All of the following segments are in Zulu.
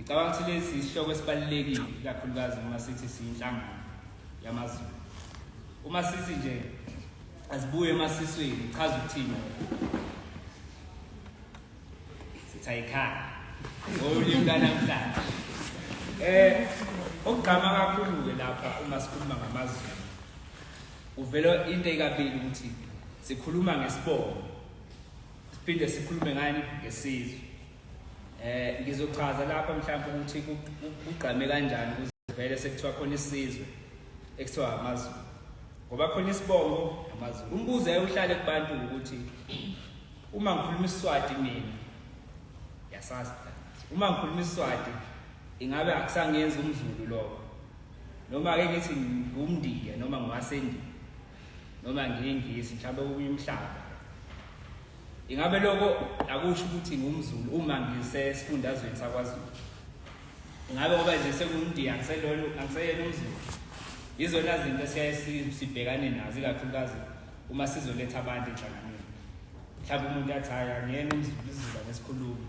ngicabanga ukuthi lesi isihloko esibalulekile ikakhulukazi uma sithi siyinhlangano yamazulu uma sithi nje azibuye emasisweni ichaza ukuthini sithayikhaya ngolimi lwanamhlanje eh okugqama kakhulu-ke lapha uma sikhuluma ngamazulu kuvela into ekabili ukuthi sikhuluma ngesibongo siphinde sikhulume ngani ngesizwe eh ngizochaza lapha mhlawumbe ukuthi kugqame kanjani ukuze vele sekuthiwa khona isizwe ekuthiwa amazulu ngoba khona isibongo amazulu umbuzo ayewuhlale kubantu ukuthi Uma ngikhuluma isiswati mina yasazi uma ngikhuluma isiswati ingabe akusangenzi umzulu lokho noma ke ngithi ngumndiya noma ngiwasendiya noma ngiyingisi mhlawumbe okunye umhlaba ingabe lokho akusho ukuthi ngumzulu uma ngisesifundazweni sakwazulu ingabe ngoba nje sekundiya angiseyena umzulu yizona zinto esiyaye sibhekane nazo ikakhulukazi uma sizoletha abantu enhlanganweni mhlawumbe umuntu athi hhayi angiyena umzuluzuba ngesikhulumi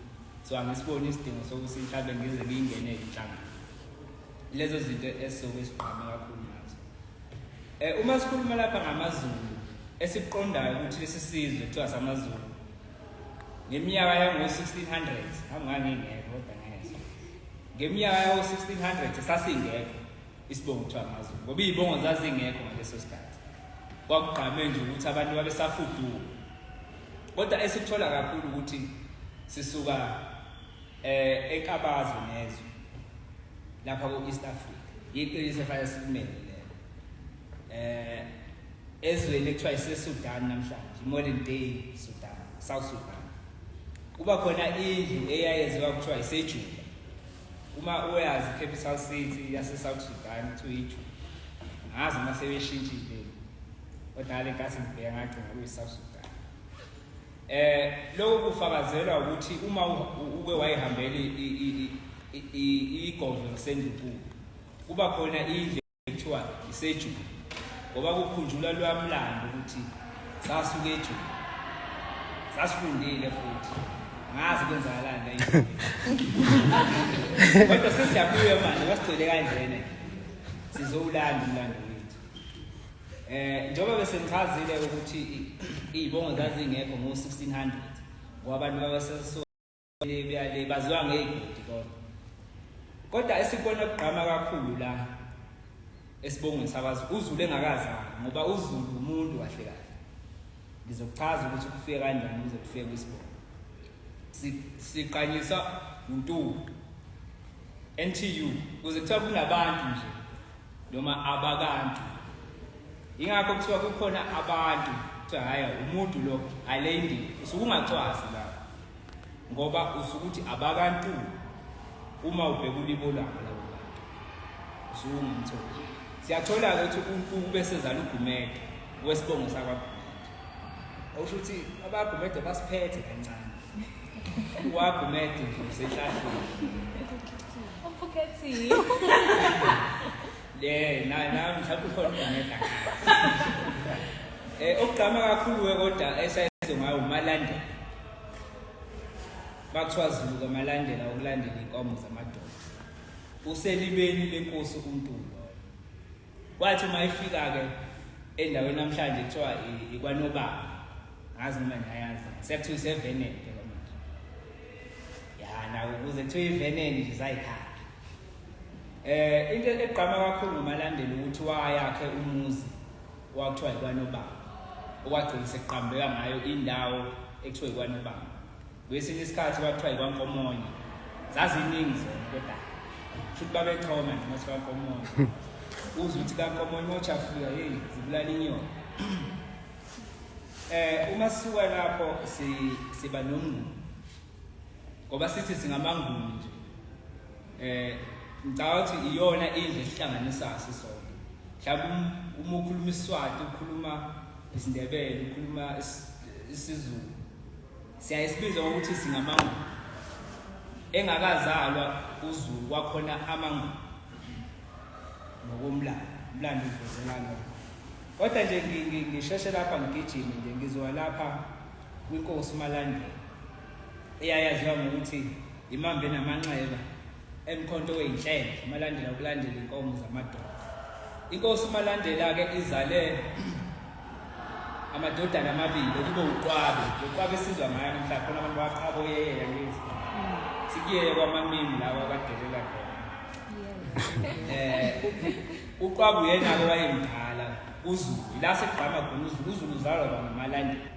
so angisiboni isidingo sokuthi mhlawumbe ngize ngiyingene inhlangano lezo zinto esizobe siqame kakhulu nazo um uma sikhuluma lapha ngamazulu esiqondayo ukuthi lesi sizwe kuthiwa samazulu ngeminyaka yango-1600 angangingekho kodwa ngezwa ngeminyaka yawo-1600 sasingekho isibongo kuthiwa amazulu ngoba iy'bongo zazingekho ngaleso sikhathi kwakugqame nje ukuthi abantu babesafuduka kodwa esikuthola kakhulu ukuthi sisuka eh ekabazo nezwe lapha ku-east africa yiqiniso efanele sikumele lelo eh ezweni ekuthiwa isesudan namhlanje modern day sudan south sudan kuba khona indlu eyayenziwa kuthiwa isejuda Uma uyazi capital city yaseSouth Sudan kuthiwa iJuba. Ngazi uma sebeshintshile. Kodwa le nkathi ngibheka ngagcina kuyiSouth Sudan. Eh lokho kufakazelwa ukuthi uma uke wayihambela igodlo kusendunkulu kuba khona indle kuthiwa isejuba ngoba kukhunjulwa loya mlando ukuthi sasuke ejuba sasifundile futhi ngazi kwenzakalani la kodwa sesiyabuya manje wasigcwele kanjena sizowulanda umlando wethu eh njengoba bese ngichazile ukuthi izibongo zazingekho ngo 1600 ngoba abantu babaseso le baziwa ngeyigodi kodwa kodwa esikubona kugqama kakhulu la esibongweni sakwazi uzulu engakazani ngoba uzulu umuntu kahle kahle ngizokuchaza ukuthi kufike kanjani ukuze kufike kwisibongo siqanyisa uNtuli NTU kuze kuthiwa kunabantu nje noma abakantu ingakho kuthiwa kukhona abantu kuthiwa hhayi umuntu lo ayile indini usuke ungacwazi la ngoba usukuthi abakantu uma ubheka ulibo lwabo labo bantu usuwumtholi siyathola-ke ukuthi unkuku bese zala ugumede wesibongo sakwagumede okusho ukuthi abagumede basiphethe kancane uwagumede nje usehlahleni uphukethile le na na mhlawumbe ukhona ugumede eh okugqama kakhulu-ke kodwa esayizo ngayo umalandela Kwathiwa Zulu kamalandela ukulandela inkomo zamadoda. Uselibeni lenkosi umuntu loyo. Kwathi uma ifika ke endaweni namhlanje kuthiwa ikwanobaba. Ngazi noma niyayazi. Sekuthiwa isevenene ke manje. Ya na ukuze kuthiwa ivenene nje zayikhaya. Eh into egqama kakhulu ngomalandela ukuthi wayakhe umuzi kwakuthiwa yikwanobamba okwagcina sekuqambeka ngayo indawo ekuthiwa yikwanobamba kwesinye isikhathi kwakuthiwa yikwankomonye zaziningi zona kodwa shuthi babechoma nje uma sikankomonye uze ukuthi kankomonye uma uchafika yeyi zibulala inyoni um uma sisuka lapho siba nomnguni ngoba sithi singamanguni nje eh ngicabanga ukuthi iyona indle esihlanganisa sisonke mhlawumbe um, uma ukhuluma isiswati ukhuluma isindebele ukhuluma isizulu siyaye sibize ukuthi singamanguni engakazalwa uzulu kwakhona amanguni ngokomlando umlando uvezelana kodwa nje ngisheshe lapha ngigijime nje ngizowa lapha kwinkosi uMalandela eyayaziwa ngokuthi imambe namanxeba emkhonto weyinhlelo uMalandela ukulandela inkomo zamadoda inkosi uMalandela-ke izale amadodana amabili kube uqwabe uqwabe esizwa ngayo namhla khona abantu baqhabo yeyela lezi sikuyeye kwamamini lawa badelela khona um uqwabe uyena-ke wayemdala uZulu ila sekugqama khona uZulu uZulu uzalwa ngamalandela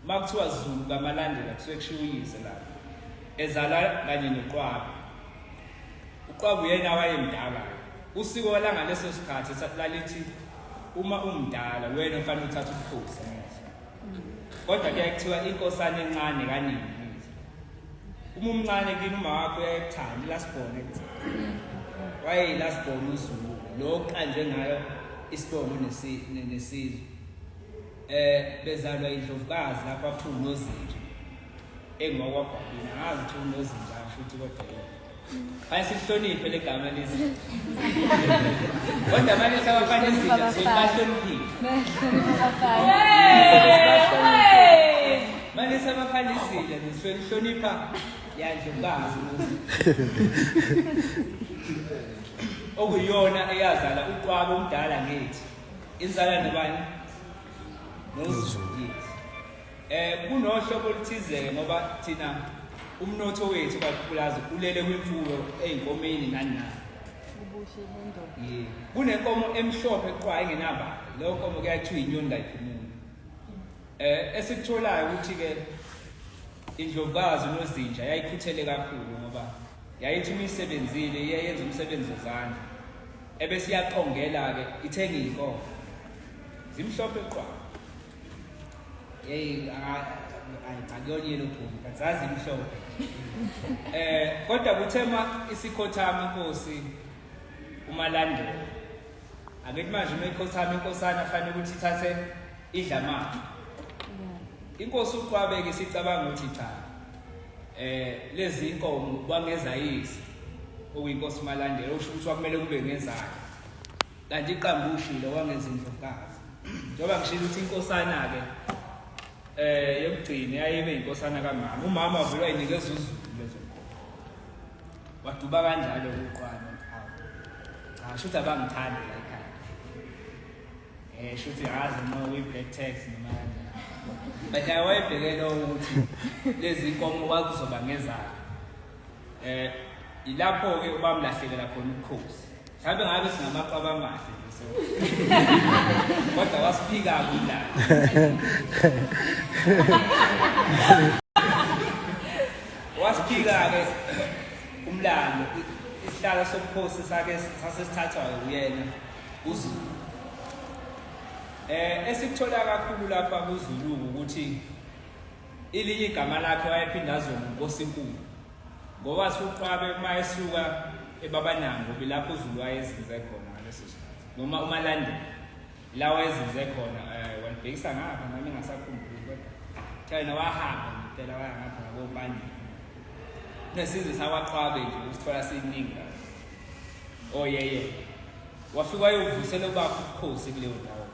uma kuthiwa Zulu kamalandela kusuke kushiwo uyise la ezala kanye noqwabe uqwabe uyena wayemdala usiko walanga leso sikhathi lalithi uma umdala wena ufanele uthathe ubukhosi kodwa kuyaye kuthiwa inkosana encane kaningi uma umncane kini uma wakho uyayithanda last born waye last born uzulu lo qanje ngayo isibongo nesizwe eh bezalwa indlovukazi lapha kuthiwa unozinja engiwakwabhabini angazi kuthiwa unozinja asho ukuthi kodwa Hayi sihloniphe legama lezi. Kodwa manje sabafana izinto sibahloniphile. Manje sabafana izinto nisihlonipha yanje bazi. Okuyona eyazala uqwabo omdala ngithi. Inzala nobani? Nozulu. Eh kunohlobo oluthize ngoba thina umnotho wethu kakhulukazi ulele kwimfuyo ezinkomeni nani nani. Ubuhle bendoda. Yeah. Kunenkomo emhlophe qwa engenaba. Leyo nkomo kuyathiwa inyoni kayiphumuli. Eh esikutholayo ukuthi ke indlovukazi nozinja yayikhuthele kakhulu ngoba yayithi uma isebenzile iyayenza umsebenzi wezandla ebesiyaqongela-ke ithenge iy'nkomo zimhlophe qwa Hey, ayicakuyona yena ubhungu, kazazi imhlobo. Eh, kodwa kuthema isikhothama inkosi umalandela. Angithi manje uma ikhothama inkosana afanele ukuthi ithathe idla manje. Inkosi uqwabeke sicabanga ukuthi cha. Eh, lezi inkomo kwangeza yisi. Okuyinkosi umalandela usho ukuthi kwakumele kube ngezakhe. kanti iqambu ushilo wangenza indlovukazi njengoba ngishilo ukuthi inkosana-ke eh yokugcina yayibe inkosana kamama umama wavele wayinikeza uzulu lezonkomo waduba kanjalo ukuqwana cha shuthi abangithandi la ekhaya eh shuthi hazi no we black tax noma kanjani but ayewayebheke lowo ukuthi lezi nkomo kwakuzoba ngezakhe eh ilapho ke ubamlahlekela khona ukhosi mhlawumbe ngabe singamaqaba amahle kodwa wasiphika kulala wasiphika-ke umlando isihlalo sobukhosi sake sasesithathwayo uyena uzulu um esikuthola kakhulu lapha kuzulu ukuthi Ilinye igama lakhe wayephinde aziwe ngoNkosinkulu ngowathi uqwabe uma esuka ebabanango bilapho uZulu wayezinze khona ngaleso sikhathi noma umalandela la wayezinze khona eh, walibhekisa ngapha nami ngasakhumbuli kodwa thayena wahamba ngempela waya ngapha ngabobani nesizwe sakwaqwabe nje usithola siningi oyeye oh, wafika wayovusela ubaba ubukhosi kuleyo ndawo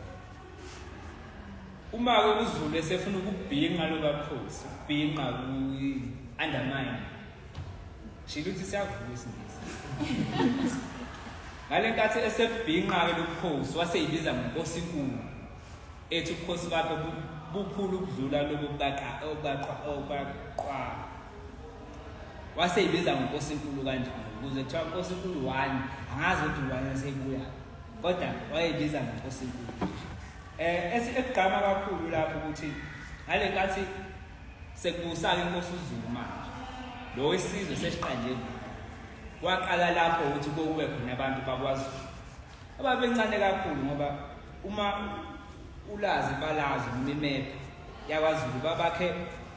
uma ke uzulu esefuna ukubhinqa lokakhosi ubhinqa ku-undermine shilo ukuthi siyavuka isingisi ngale nkathi esebhinqa-ke lobukhosi waseyibiza ngonkosinkulu ethi ubukhosi bakhe bukhulu ukudlula lobo waseyibiza ngenkosi enkulu kanjalo ukuze kuthiwa nkosi enkulu one angazi ukuthi ubani waseyibuya kodwa wayeyibiza ngenkosi enkulu eh esigqama kakhulu lapho ukuthi ngale nkathi sekubusaka inkosi uZulu manje lo wesizwe sesiqanjeni waqala lapho ukuthi kokube khona abantu bakwaZulu ababencane kakhulu ngoba uma ulazi balazi umimephi yakwaZulu babakhe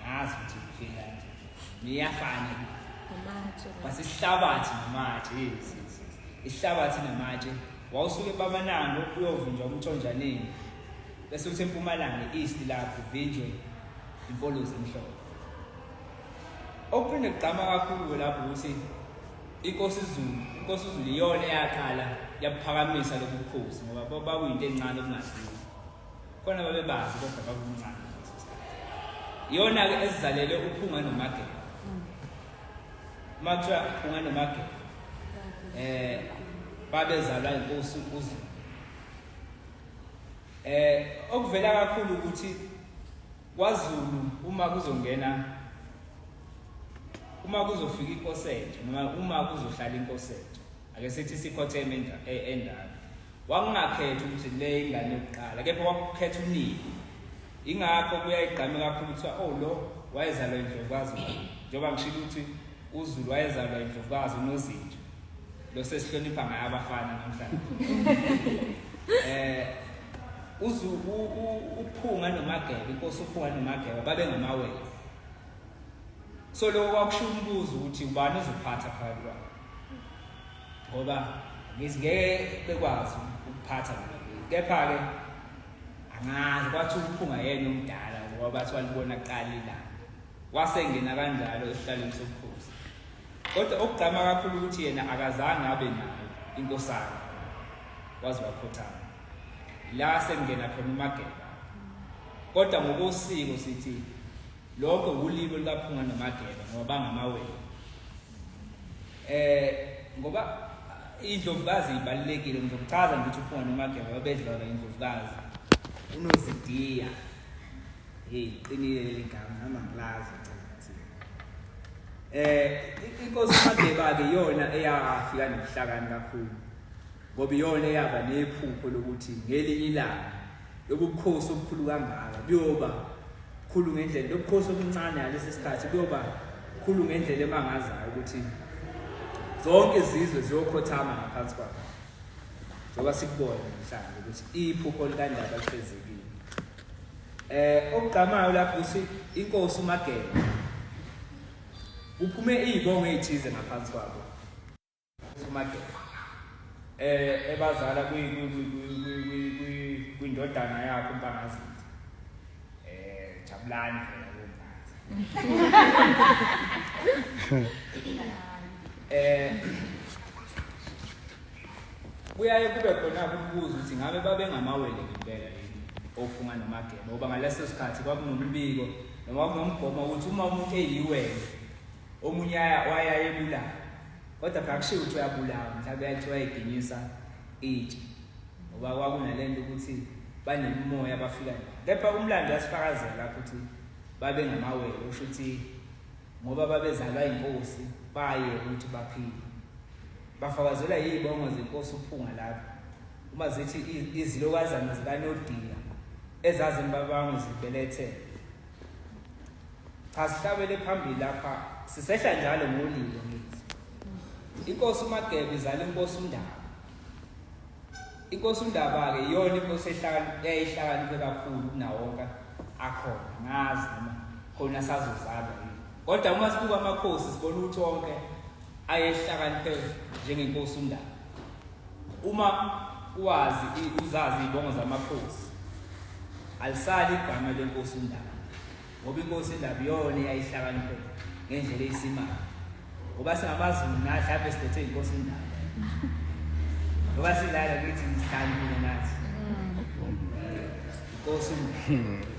ngazi ukuthi kufika kanje niyafana amatshe basihlabathi namatshe yes yes yes. isihlabathi namatshe wawusuke bamanango uyovunjwa umthonjaneni bese uthi empumalanga east lapho uvinjwe imfolozi emhlophe okuphinde kugqama kakhulu lapho ukuthi inkosi izulu inkosi izulu iyona eyaqala yabuphakamisa lobu bukhosi ngoba babuyinto encane kungaziwa khona babebazi kodwa bakumncane iyona-ke esizalele uphunga nomagela uma kuthiwa uphunga nomagela um eh, babezalwa inkosi uzu um eh, okuvela kakhulu ukuthi kwazulu uma kuzongena uma kuzofika inkosetho noma uma kuzohlala inkosetho ake sithi sikhotheme e-, endala wangingakhethi ukuthi le ingane yokuqala kepha wakukhetha unini ingakho kuyayigqame kakhulu kuthiwa o oh, lo wayezalwa indlovukazi njengoba ngishilo ukuthi uzulu wayezalwa indlovukazi unozinja lo sesihlonipha ngaye abafana namhlanje um uphunga nomageba inkosi uphunga nomageba babengamawele so lokho kwakusho umbuzo ukuthi ubani uzophatha phakathi kwabo ngoba ngithi ngeke bekwazi ukuphatha mina kepha-ke angazi kwathi ukuphunga yena omdala ngoba bathi walibona kuqala ilanga wasengena kanjalo esihlalweni sobukhosi kodwa okugqama kakhulu ukuthi yena akazange abe nayo inkosana waze wakhothama la sengena khona umageba kodwa ngokosiko sithi lokho wulilo likaphunga nomageba ngoba bangamawele Eh ngoba indlovukazi ibalekile ngizokuchaza ngithi uphunga nomageba babedlala indlovukazi unozidiya hey qinile leli gama nami angilazi eh inkosi uMageba ke yona eyafika nobuhlakani kakhulu ngoba iyona eyaba nephupho lokuthi ngelinye ilanga lobu bukhosi obukhulu kangaka buyoba khulu ngendlela lobu bukhosi obuncane ngalesi sikhathi buyoba khulu ngendlela emangazayo ukuthi zonke izizwe ziyokhothama ngaphansi kwakho njengoba sikubona namhlanje ukuthi iphupho likandaba lifezekile eh okugqamayo lapho uthi inkosi uMageba kuphume izibongo ezithize ngaphansi kwabo eh ebazala kwindodana yakho umpanazi eh jabulani phela kumpanazi eh kuyaye kube khona ukubuza ukuthi ngabe babengamawele ngempela yini ophunga nomageba ngoba ngaleso sikhathi kwakunombiko noma kunomgomo ukuthi uma umuntu eyiwele omunye wayayebulawa kodwa phela kushiwo ukuthi uyabulawa mhlawumbe yathiwa iginyisa itshe ngoba kwakunale nto ukuthi banemimoya abafika nayo kepha umlando uyasifakazela lapho ukuthi babengamawele usho ukuthi ngoba babezalwa inkosi baye ukuthi baphile bafakazelwa yiy'bongo zenkosi uphunga lapho uma zithi izilokazana zikanodinga ezazimbabangwe zibelethele Cha sihlabele phambili lapha sisehla njalo ngolilo ngithi. Inkosi uMagebe izale inkosi uNdaba. Inkosi uNdaba ke iyona inkosi ehlakaniphile eyayihlakaniphile kakhulu kunawonke akhona ngazi noma khona sazozalwa yini. Kodwa uma sibuka amakhosi sibona ukuthi wonke ayehlakaniphe njengenkosi uNdaba uma wazi uzazi izibongo zamakhosi alisali igama lenkosi uNdaba ngoba inkosi uNdaba iyona eyayihlakaniphe ngendlela eyisimanga ngoba singamaZulu nathi lapho sibethe inkosi uNdaba ngoba silala kithi ngihlangile nathi inkosi uNdaba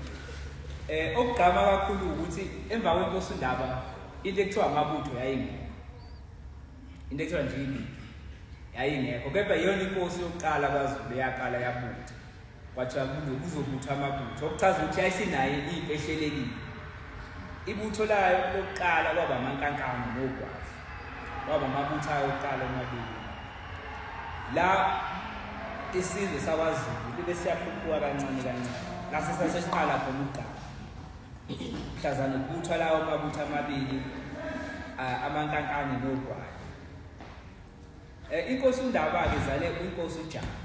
eh okugqama kakhulu ukuthi emva kwenkosi uNdaba into ekuthiwa amabutho yayingekho into ekuthiwa nje impi yayingekho kepha iyona inkosi yokuqala kwazulu eyaqala yabutha kwathiwa kuzobutha amabutho okuchaza ukuthi yayisinayo impi ehlelekile ibutho layo lokuqala kwaba amankankano nogwazi kwaba amabutho ayo okuqala omabili la isizwe sakwazulu libe siyakhuphuka kancane kancane lase sasesiqala khona ukuqala mhlazana kubuthwa lawo mabutho amabili amankankane nogwayi eh, inkosi undaba-ke zale inkosi ujama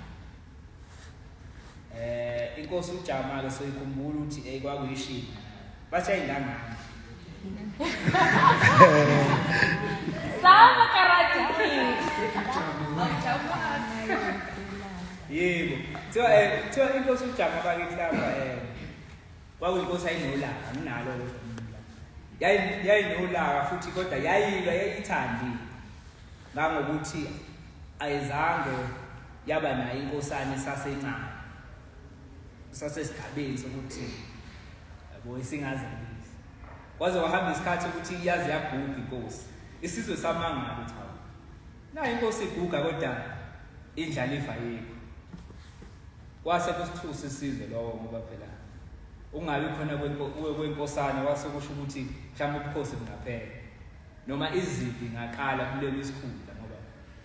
eh inkosi ujama ke soyikhumbula ukuthi hey kwakuyishini basha ingangani Sama karate. Yebo. Thiwa eh thiwa inkosi ujama bakithi lapha eh kwakuyinkosi ayinolaka anginalo yayinolaka futhi kodwa yayilwa yayithandi ngangokuthi ayizange yaba nayo inkosana esasencane sasesigabeni sokuthi yabo isingazelisi kwaze wahamba isikhathi ukuthi iyazi yaguga inkosi isizwe samangala ukuthi hawu nayo inkosi iguga kodwa indlaliva yekho Kwase kusithusa isizwe lowo ngoba phela ungabi khona kwenkosana kwase kusho ukuthi mhlawumbe ubukhosi bungaphela noma izimpi ngaqala kulelo isikhundla ngoba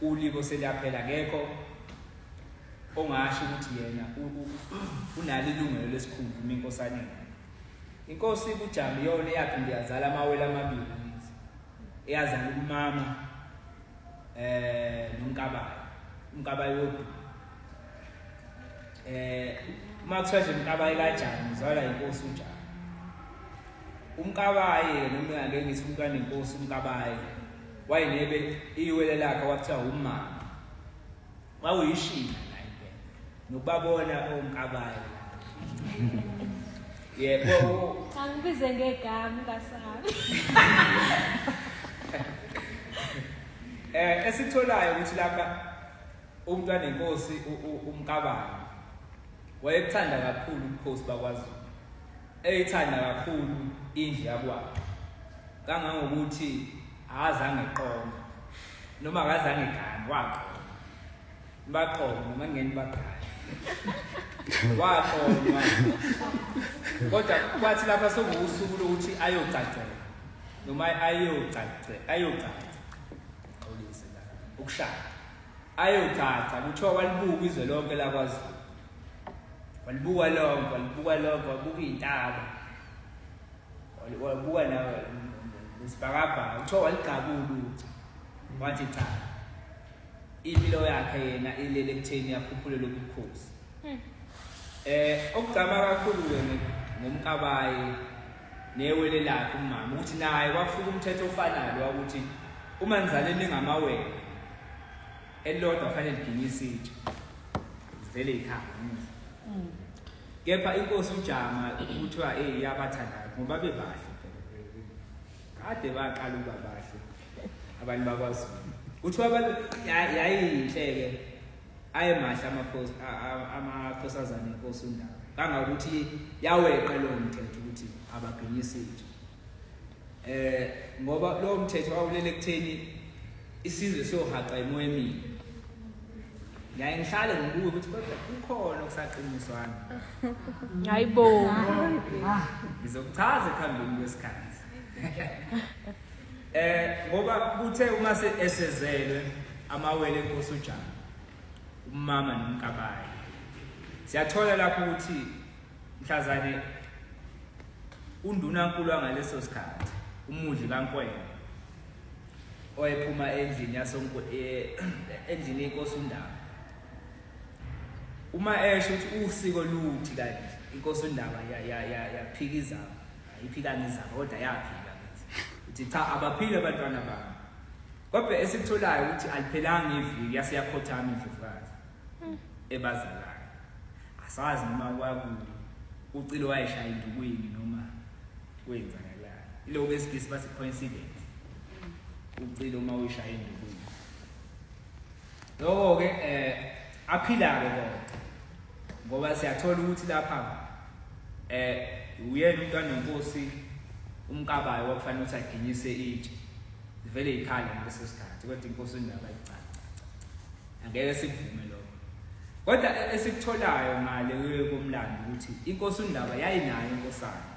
ulibo seliyaphela kekho ongasho ukuthi yena unalo ilungelo lesikhundla uma inkosana inkosi ibujama iyona eyakhe ndiyazala amawele amabili eyazala umama eh nomkabayo umkabayo wodwa eh uma kuthiwa nje umkabayi kanjani uzalwa inkosi unjani umkabayi yena uma ngake ngithi umntwana inkosi umkabayi wayenebe iwele lakhe wakuthiwa umama wawuyishina la impela nokubabona omkabayi yebo angibize ngegama kasabi eh esitholayo ukuthi lapha UMntwanenkosi uMkabayi wayekuthanda kakhulu ubukhosi bakwaZulu. Eyithanda kakhulu indlu yakwabo. Kangangokuthi akazange eqome noma akazange egane waqoma. Baqoma noma ngeni bagane. Waqoma. Kodwa kwathi lapha sokuwusuku lokuthi ayogcagcela noma ayogcagcela ayogcagcela. Xolise la. Ukushaya. ayocaca kuthiwa walibuka izwe lonke lakwazulu walibuka lonke walibuka lonke wabuka iy'ntaba wabuka nesibhakabhaka kuthiwa waligqabula ukuthi wathi cha impilo yakhe yena ilele ekutheni yakhuphule lobu bukhosi um okugcama kakhulu-ke ngomkabayi newele lakhe umama ukuthi naye kwafika umthetho ofanayo wakuthi uma nizaleni ningamawele elilodwa fanele liginye isitsha zivele ikhaya mm. kepha inkosi ujama kuthiwa eyi iyabathandayo ngoba bebahle kade baqala ukuba bahle abantu bakwazulu kuthiwa yayiyinhle-ke ayemahle amakhosi amakhosazane inkosi undaba kangakuthi yaweqa lo mthetho ukuthi ababhinyisi nje eh ngoba lo mthetho wawulele kutheni isizwe siyohaqa imoya emini ngiyaye ngihlale ngibuke ukuthi kodwa kukhona okusaqiniswana hayi bo ngizokuchaza ekuhambeni kwesikhathi Eh ngoba kuthe uma se esezelwe amawele enkosi uJana umama nomkabayi siyathola lapho ukuthi mhlazane undunankulu angaleso sikhathi umudli kankwena oyephuma endlini yasonko eh, endlini yenkosi undaba uma esho ukuthi usiko luthi kanti inkosi undaba yaphika izaba Ayiphikanga izaba kodwa yaphika uthi cha abaphile abantwana bami. Kodwa esikutholayo ukuthi aliphelanga iviki yase yakhothama indlovukazi ebazalayo. Asazi noma kwaku ucile wayeshaya indukwini noma kwenzakalani. Ilokho esigisi bathi coincidence. Ucile uma uyishaya indukwini. Loko-ke um aphila-ke kona ngoba siyathola ukuthi lapha um uyena umuntu anenkosi umkabayo wakufanele ukuthi aginyise itshe zivele yikhale ngaleso sikhathi kodwa inkosi indaba icaca angeke sikuvume lokho kodwa e-, esikutholayo ngale komlando ukuthi inkosi undaba yayinayo inkosana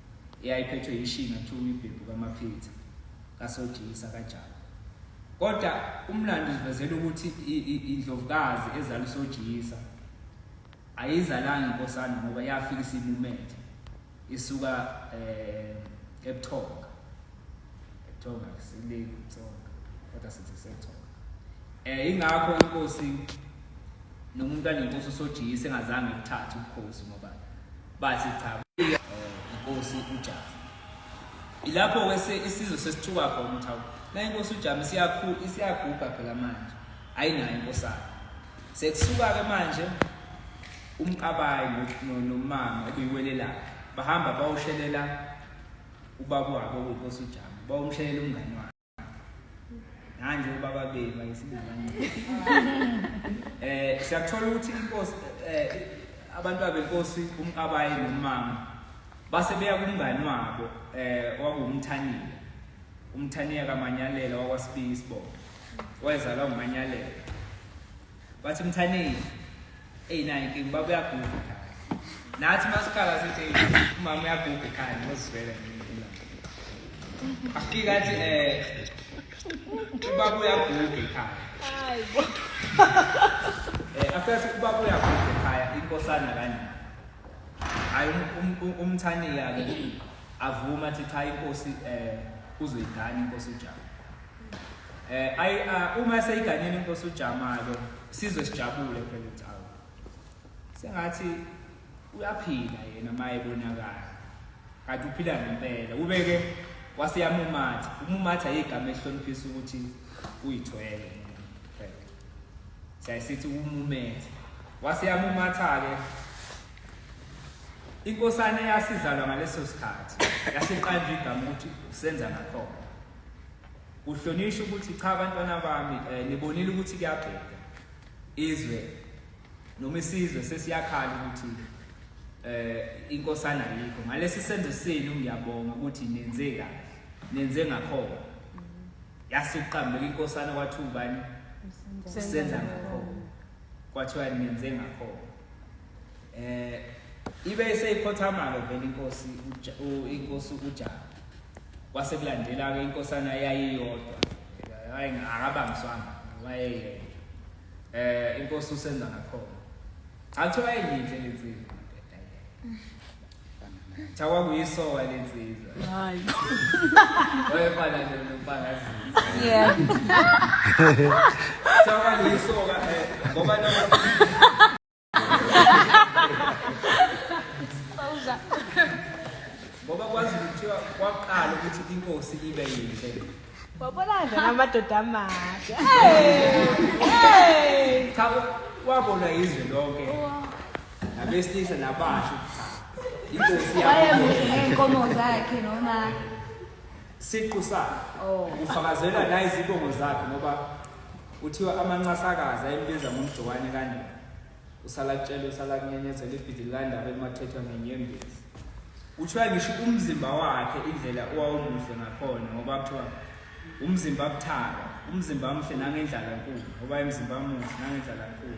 eyayiphethwe yishinga kuthiwa uyibhebhu kamaphitha kasojiyisa kajaba kodwa umlando uzivezela ukuthi indlovukazi ezala usojiyisa ayizalanga inkosana ngoba yafika isimumethe isuka eh ebuthonga ebuthonga sile kutsonga kodwa sithi sethonga eh ingakho inkosi nomuntu anenkosi usojiyisa engazange ukuthatha ubukhosi ngoba bathi cha eh, inkosi ujaha ilapho kwese isizwe sesithuka khona ukuthi awu la inkosi ujama isiyakhulu isiyaguga phela manje ayinayo inkosana sekusuka ke manje umkabayi nomama okuyiwele lakhe bahamba bawushelela ubaba wabo kuyinkosi ujama bawumshelela umngani wakhe Nanje ubaba benu bayisibani. Eh siyathola ukuthi inkosi eh abantu abenkosi umkabayi nomama base beya kumngani wabo eh wangumthaniya. Umthaniya kaManyalela wakwasibisi bo. Wayezalwa nguManyalela. Bathi mthaneni. Ey naye ke baba uyaguga. Nathi masikhala sithi umama uyaguga ekhaya ngozivela ngina. Afika athi eh ubaba uyaguga ekhaya. Hayi. Eh afika athi ubaba uyaguga ekhaya inkosana kanje. Hayi um, um, umthani yake avuma athi cha inkosi eh uzoyigana inkosi uJabu. Eh ay uh, uma seyiganyeni inkosi uJamalo sizwe sijabule phela ukuthi awu. Sengathi uyaphila yena maye bonakala. Kanti uphila ngempela. Ubeke waseyamumatha. Umumatha yigama ehloniphisa ukuthi uyithwele. Siyasithi umumethe. Waseyamumatha ke inkosana eyasizalwa ngaleso sikhathi yasiqanjwa igama ukuthi usenza nakhona Uhlonishwa ukuthi cha abantwana bami eh, nibonile ukuthi kuyabheda izwe noma isizwe sesiyakhala ukuthi eh inkosana yikho ngalesi senzo senu ngiyabonga ukuthi nenze kahle nenze ngakhona yasuqambeka inkosana kwathiwa ubani senza ngakhona kwathiwa nenze ngakhona eh ibe seyikhothama-ke vele inkosi inkosi uja kwase kulandela-ke inkosana yayiyodwa hayi akabangiswanga wayeyedwa eh inkosi usenza ngakhona athi wayeyinhle lensizwa cha kwakuyisoka lensizwa hayi wayefana nompangazizi yeah cha kwakuyisoka eh, ngoba ngoba kwazi kuthiwa kwaqala ukuthi inkosi ibe yinhle wabona nje namadoda amahle cha wabona izwe lonke nabesilisa nabasho inkosi yabo zakhe noma siqu sakhe oh. ufakazelwa nayizibongo zakhe ngoba Kuthiwa amancasakazi ayembiza ngomjokwane kanina. Usala kutshela usala kunyenyezela ibhidili kandaba elimathethwa ngenyembezi. Kuthiwa ngisho umzimba wakhe indlela owawumuhle ngakhona ngoba kuthiwa umzimba buthaka, umzimba muhle nangendlala nkulu ngoba imzimba muhle nangendlala nkulu.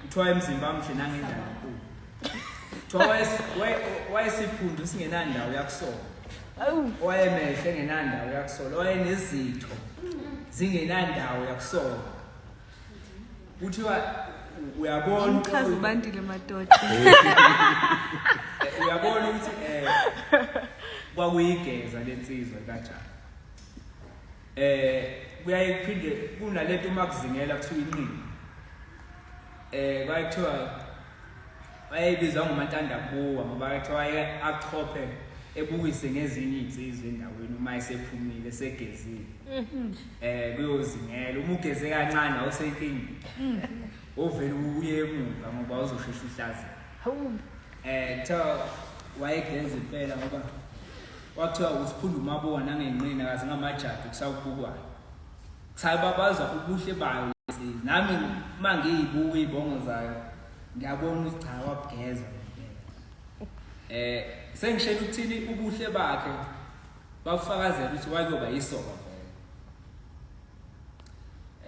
Kuthiwa imzimba muhle nangendlala nkulu. wayesiphundu singenandawo yakusola wayemehle engenandawo yakusola wayenezitho zingenandawo yakusola kuthiwa uyabona uchaza ubandile madoda uyabona ukuthi um kwakuyigeza lensizwa kajani Eh kuyaye kuphinde kunalento uma kuzingela kuthiwa inqini. Eh kwaye kuthiwa wayebiza ngomantanda kuwa ngoba kuthiwa waye achophe ebukise ngezinye izinsizwa endaweni uma esephumile segezile. Mhm. Eh kuyozingela uma ugeze kancane awusenkingi. Mhm. Ovele uye emuva ngoba uzoshesha uhlaza. Hawu. Eh kuthiwa wayegeza impela ngoba Kwathiwa usiphunda umabowa nangenqina kaze ngamajaji kusawubukwana. Kusayibabaza ubuhle bayo lensizwa. Nami uma ngiyibuka iy'bongo zayo ngiyabona ukuthi cha wabugeza. Eh sengishela ukuthini ubuhle bakhe bafakazela ukuthi wayoba yisoka.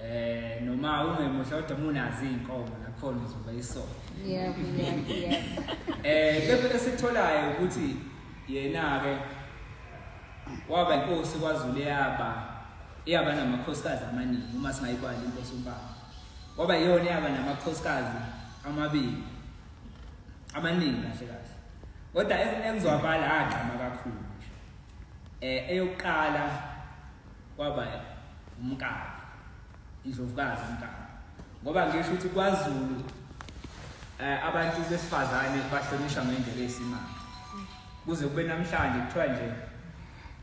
eh noma ungemuhle kodwa munazi inkomo nakhona uzoba isona yebo yebo eh bebe esitholayo ukuthi yena ke waba inkosi kwaZulu yaba iyaba namakhosikazi amaningi uma singayikwali inkosi umbaba waba iyona yaba namakhosikazi amabili amaningi kahle kahle kodwa engizwakala agqama kakhulu eh eyokuqala kwaba umkabi indlovukazi umkabi ngoba ngisho ukuthi kwaZulu eh abantu besifazane bahlonishwa ngendlela esimanga kuze kube namhlanje kuthiwa nje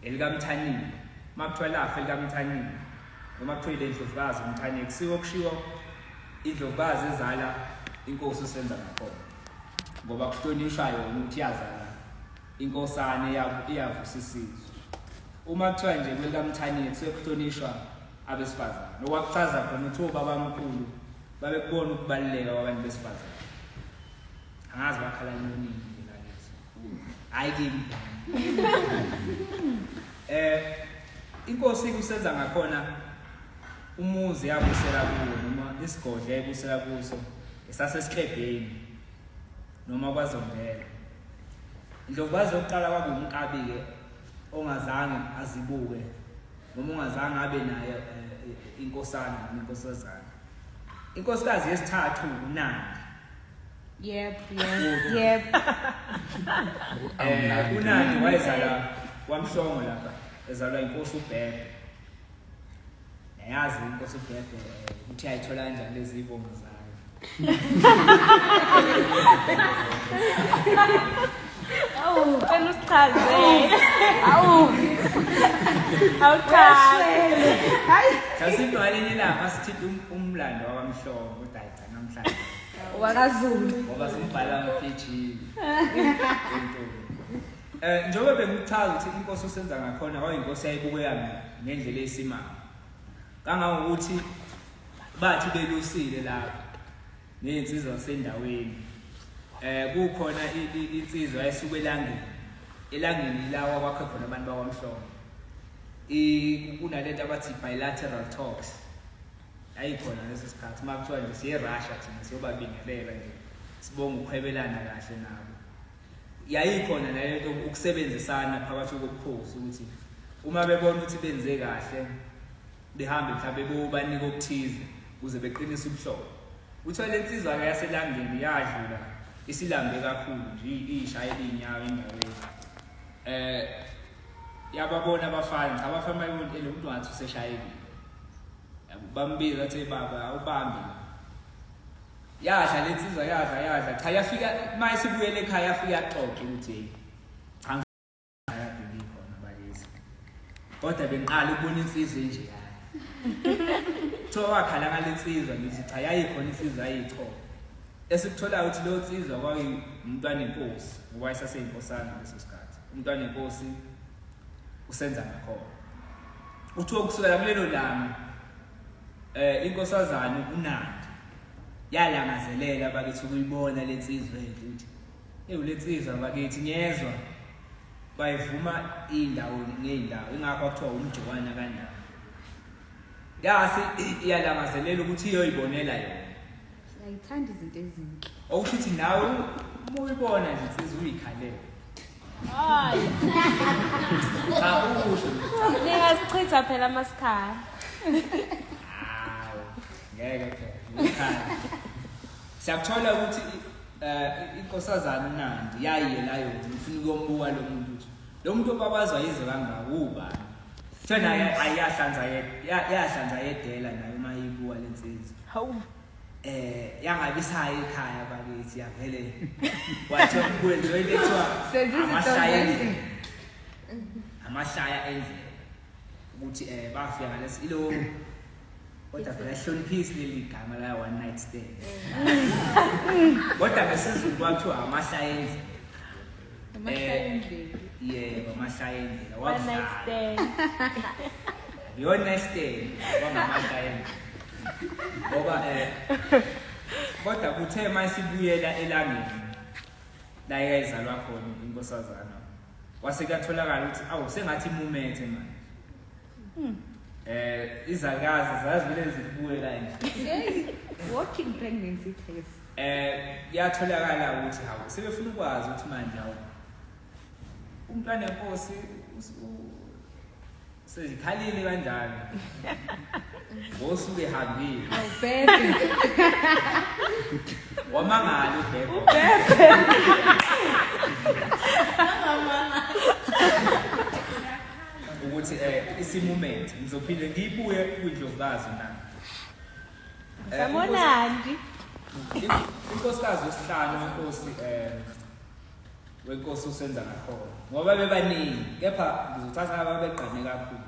elikamthanile makuthiwa lafa elikamthanile noma kuthiwa ile ndlovukazi umthanile kusiwo kushiwo indlovukazi ezala inkosi usenza ngakhona ngoba kuhlonishwa yona ukuthi yazala Inkosana iyavusa isizwe. Uma kuthiwa nje kwelikamthaniye sekuhlonishwa abesifazane. Nokwakuchaza khona ukuthi obabamkhulu babekubona ukubaluleka kwabantu besifazane. Angazi bakhala nini mina ngithi. Hayi kimi. Eh inkosi kusenza ngakhona umuzi yabusela kuwo noma isigodle yabusela kuso esasesiklebheni noma kwazondela indlovukazi yokuqala kwakungukabi-ke ongazange azibuke noma ungazange abe naye eh, inkosana noma inkosazana inkosikazi yesithathu unandi yep yep yep eh unandi wayezala kwamhlongo lapha ezalwa inkosi ubheke Yazi inkosi uBhebhe ukuthi ayithola kanjani lezi ibongo zayo. Awu, cela usichaze. Awu. Awuchaze. Hayi. Sasiphi walenye lapha sithithi um- umlando wabamhlongo kodwa ayigcina namhlanje. Wakazulu. Ngoba simbhala ama-PG. Into. Eh njengoba bengikuchaza ukuthi inkosi usenza ngakhona kwayinkosi yayibukeyana ngendlela eyisimanga. Kangangokuthi bathi belusile lapha nezinsizwa sendaweni. Eh kukhona insizwa esuke elangeni. Elangeni lawa kwakhe khona abantu bakwamhlongo. I kunalento abathi bilateral talks. Ayikhona lesi sikhathi makuthiwa nje siye Russia thina siyobabingelela nje. Sibonga ukuhwebelana kahle nabo. yayikhona nayo into ukusebenzisana phakathi kokukhosi ukuthi uma bebona ukuthi benze kahle behambe mhlawumbe bobanika okuthize ukuze beqinise ubuhlobo kuthiwa le nsizwa-ke yaselangeni yadlula isilambe kakhulu nje iyishayela iy'nyawo endaweni um eh, yababona abafana cha abafana bayontele umntu ngathi useshayekile bambiza athe baba awubambi yadla le nsizwa yadla yadla cha yafika uma esibuyele ekhaya yafika yaxoxa ukuthi khona balezi kodwa bengiqala ukubona insizwa enje yayo kuthiwa wakhala ngale nsizwa ngithi cha yayikhona insizwa yayichoko esikutholayo ukuthi leyo nsizwa kwakuyumntwana enkosi ngoba isaseyinkosana leso sikhathi umntwana enkosi usenza ngakhona kuthiwa kusukela kulelo langa Eh inkosazana uNandi yalangazelela bakithi ukuyibona lensizwa efuthi. Ewu lensizwa bakithi ngiyezwa bayivuma indawo ngeindawo ingakho kuthiwa umjokwana kanjani. Yasi iyalangazelela ukuthi iyoyibonela yona. Ngiyayithanda izinto ezinhle. Okusho ukuthi nawe uma uyibona nje insizwa uyikhalele. Hayi. Cha ukusho. Ningasichitha phela amasikhala. Hawu. Ngeke phela. Uyikhala. Siyakuthola ukuthi eh inkosazana uNandi yayiye la yona ufuna ukumbuka lo muntu. Lo muntu obabazwa yize kangaka ubani? Thena ayahlanza yahlanza yedela nayo uma ibuwa lensizwa. Hawu. Eh yangabisayo ekhaya bakithi yavele. Wathi kwenziwe into ekuthiwa amashaya endlela. Amashaya endlela. Ukuthi eh bafika ngalesi ilo kodwa phela hloniphisi leli gama la one night stand kodwa ngesizulu kwakuthiwa amahlayenzi Amahlangene. yebo amahlayenzi One night stand. your nice day kwangamahlayenzi ngoba eh kodwa kuthe uma sibuyela elangeni la yayizalwa khona inkosazana kwase kuyatholakala ukuthi awu sengathi imumethe manje Hmm. Eh izakazi zazivele zibuye kanje. Walking pregnancy test. Eh yatholakala ukuthi hawu sebefuna ukwazi ukuthi manje hawu umntwana wenkosi sezikhalile kanjani ngosuku ehambile awubheke wamangala ubheke ubheke ukuthi eh isimument ngizophinde ngibuye kwindlovukazi na eh, Samonandi inkosikazi wesihlanu wenkosi eh wenkosi usenza ngakhona ngoba bebaningi kepha ngizothatha ababegqane kakhulu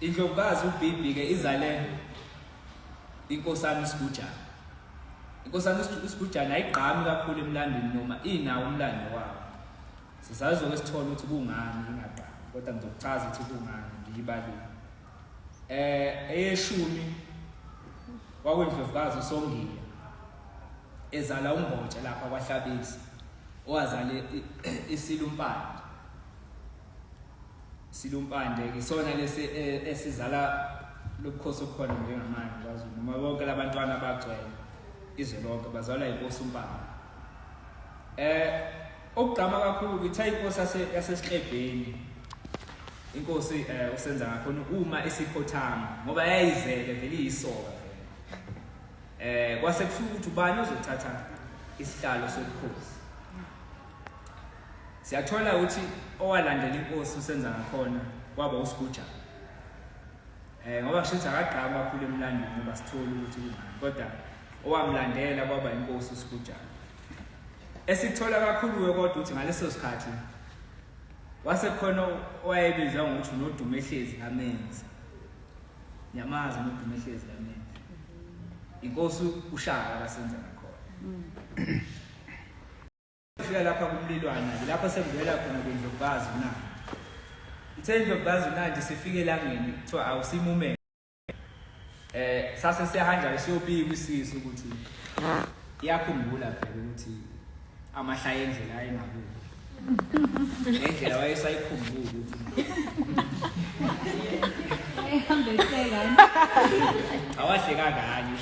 Indlovukazi uBibi ke izale inkosana uSigujana. Inkosana uSigujana ayigqami kakhulu emlandweni noma inawo umlando wawo. Sisazoke sithole ukuthi kungani ingagqami kodwa ngizokuchaza ukuthi kungani ngiyibalile. Eh eyeshumi wakwendlovukazi uSongile ezala uMbotshe lapha kwaHlabisa owazale isilumpande silumpande isona lesi e, esizala lobukhosi obukhona njengamanje kwaZulu noma bonke labantwana abagcwele izwe lonke bazalwa inkosi umpande eh okugqama kakhulu ukuthi ayinkosi yasesihlebheni inkosi eh usenza ngakhona uma isikhothama ngoba yayizele vele iyisoka eh kwase kusuka ukuthi ubani ozothatha isihlalo sobukhosi Siyathola ukuthi owalandela inkosi usenza ngakhona kwaba usiguja. Eh ngoba kusho ukuthi akagqaba kakhulu emlando ngoba sithola ukuthi kungani kodwa owamlandela kwaba inkosi usiguja. Esikuthola kakhulu we kodwa ukuthi ngaleso sikhathi wase khona owayebizwa ngokuthi unodumo ehlezi kamenzi. Nyamazi unodumo ehlezi kamenzi. Inkosi ushaka kasenza ngakhona. Mm. Fika lapha kumlilwana lapho sekuvela khona kwindlovukazi uNandi. Ithe indlovukazi uNandi sifike elangeni kuthiwa awusimume. Eh sase siyahanja siyobika isisi ukuthi iyakhumbula phela ukuthi amahlaya endlela ayengakubo. Ngendlela wayesayikhumbula ukuthi ehambe sekani. Awahleka kanye.